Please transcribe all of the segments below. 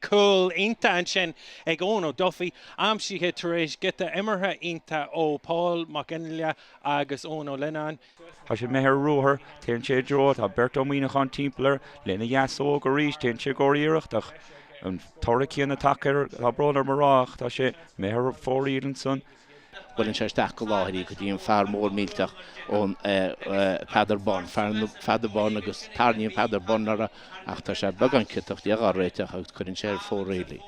Cúl iontach ansin ag Eoin O'Duffy, aimsithe tar éis giota imeartha iontach ó Paul Mac Fhionnlaoich agus Eoin Ó Lionnáin. Tá sé imithe ar ruathar, téann sé i dtreo, tá beirt ó Mhuineachán timpeall air, lena dheasóg arís, téann sé i gcomhair iarracht ach an toradh céanna tagtha air, tá brón orm a rá, ach tá sé imithe ar fóraoil ansan. Buaileann sé isteach go láidir go dtí an fear mór millteach ón Peadar Byrne, ar Pheadar Byrne, agus tarraingíonn Peadar Byrne air ach tá sé beagán ciotach, d'fhéadfadh á réiteach agus cuireann sé ar fóraoil í.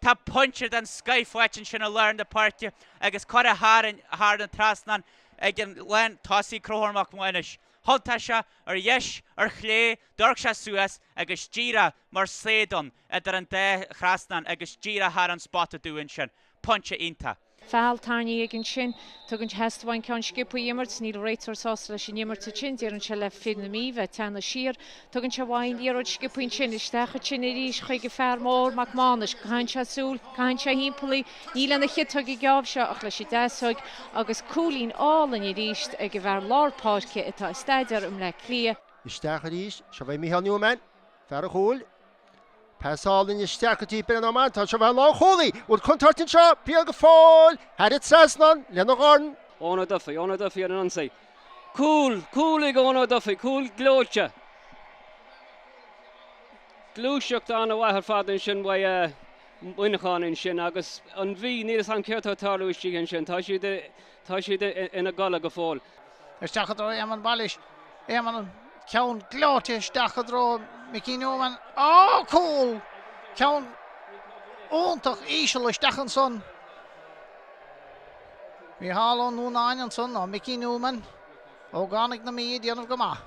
Tá pointe den scoith faighte ansin i lár na páirce agus curtha go hard thar an trasnán ag an lán tosaigh Conchúr Mac Maghnuis. Thiontaigh sé ar dheis, ar chlé, d'amharc sé suas agus díreach mar saighead ann idir an dá thrasnán agus díreach thar an spota dubh ansin. Pointe iontach! Feall tarraingthe aige ansin. Tugann theastaigh uaidh an ceann sciobtha a imirt. Níl an réiteoir sásta leis an imirt ansin, deireann sé le fir na Mí bheith ag teannadh siar. Tugann sé uaidh an liathróid sciobtha ansin isteach ansin arís chuig an fear mór, Mac Mánais. Caitheann sé súil. Caitheann sé thimpeall í. Ní lena chiotóg an geábh seo ach leis an deasóg, agus cúilín álainn arís ag an bhfear lár páirce atá ag staidéar i mBleá Cliath. Isteach arís. Seo uaidh Micheál Newman, fear an chúil. Pas álainn isteach go dtí Bryan Menton, seo uaidh an lánchúlaí. Bhfuil contúirt anseo, beidh go fóill, thar an trasnán, lena dhorn. Eoin Duffy, Eoin O'Duffy ar an ionsaí. Cúl, cúl ag Eoin O'Duffy, cúl gleoite. Gluaiseacht an-mhaith ar fad ansin uaidh Mhuineachán ansin agus an Mhí, níl 'fhios a'm céard atá ag tarlú istigh ansin. Tá siad i Tá siad ina gcodladh go fóill. Isteach i dtreo Éamonn Wallis. Éamonn an ceann gleoite isteach i dtreo Mickey Newman. Á! Cúl! Ceann iontach íseal isteach ansan. Micheál Ó Nuanáin ansan ó Mickey Newman. Ógánaigh na Mí ag déanamh go maith.